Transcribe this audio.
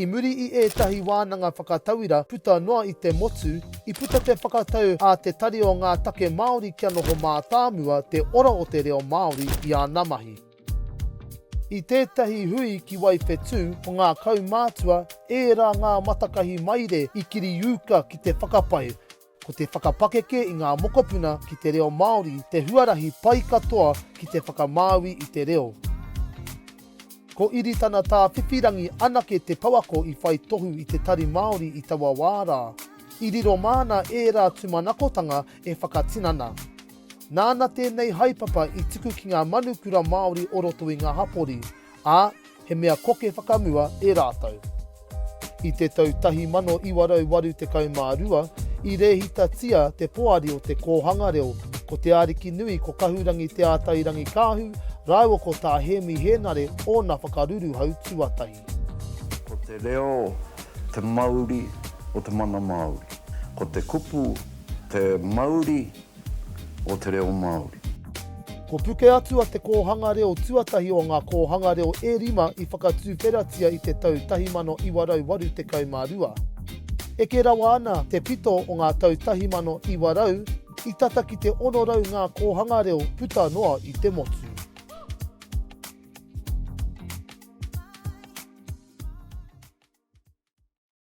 I muri i ētahi wānanga whakatauira puta noa i te motu, i puta te whakatau a Te Tari o Ngā Take Māori kia noho mātāmua te ora o te reo Māori i ana mahi. I tētahi hui ki Waiwhetū, ko ngā kaumātua, ērā ngā matakahi maire i kiriūka ki te whakapae, Ko te whakapakeke i ngā mokopuna ki te reo Māori te huarahi pai katoa ki te whakamāui i te reo. Ko Iritana Tāwhiwhirangi anake te pouako i whai tohu i te Tari Māori i taua wā rā. I riro māna ērā tūmanakotanga e whakatinana. Nāna tēnei haepapa i tuku ki ngā manu kura Māori o roto i ngā hapori, ā, he mea koke whakamua e rātou. I te tau 1982, i rēhitatia te poari o te kōhanga reo ko Te Arikinui ko Kahurangi Te Atairangikaahu rāua ko Tā Hēmi Hēnare ōna whakaruruhau tuatahi. Ko te reo te mauri o te mana Māori. Ko te kupu te mauri o te reo Māori. Ko Pukeatua te kōhanga reo tuatahi o ngā kōhanga reo e rima i whakatuwheratia i te tau 1982. Eke rawa ana te pito o ngā tau 1900, i tata ki te 600 ngā kōhanga reo puta noa i te motu.